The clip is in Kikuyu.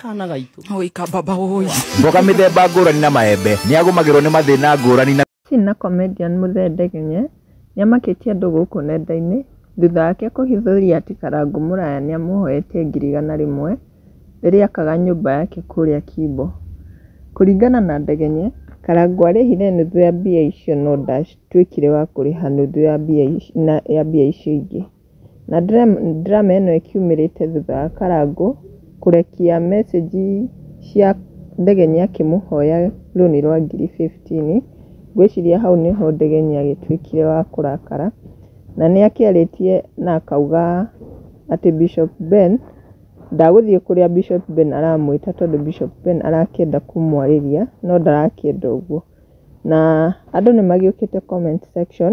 kana gaitå Oi kababa oi. Mboga mĩthemba ngũrani na maembe nĩ agũmagĩrwo nĩ mathĩna ngũrani na Tina na comedian Muthee Ndegenye nĩamakĩtie andũ gũkũ nenda-inĩ thutha wake kũhithũria atĩ Karangũ Mũraya nĩamũhoetie ngiri igana rĩmwe rĩrĩa akaga nyũmba yake kũrĩa Kimbo. Kũringana na Ndegenye, Karangũ arĩhire nuthu ya mbia icio no ndatuĩkire wa kũrĩha nuthu ya mbia icio ingĩ. Na drama ĩno ĩkiumĩrĩte thutha wa Karangũ kũrekia message cia Ndegeni akĩmũhoya rũni rwa ngiri fifteen. Ngwĩciria hau nĩho Ndegeni agĩtuĩkire wa kũrakara, na nĩ akĩarĩtie na akauga atĩ Bishop Ben, ndagũthiĩ kũrĩa Bishop Ben aramwĩta tondũ Bishop Ben arakĩenda kũmwarĩria no ndarakĩenda ũguo. Na andũ nĩ magĩũkĩte comment section.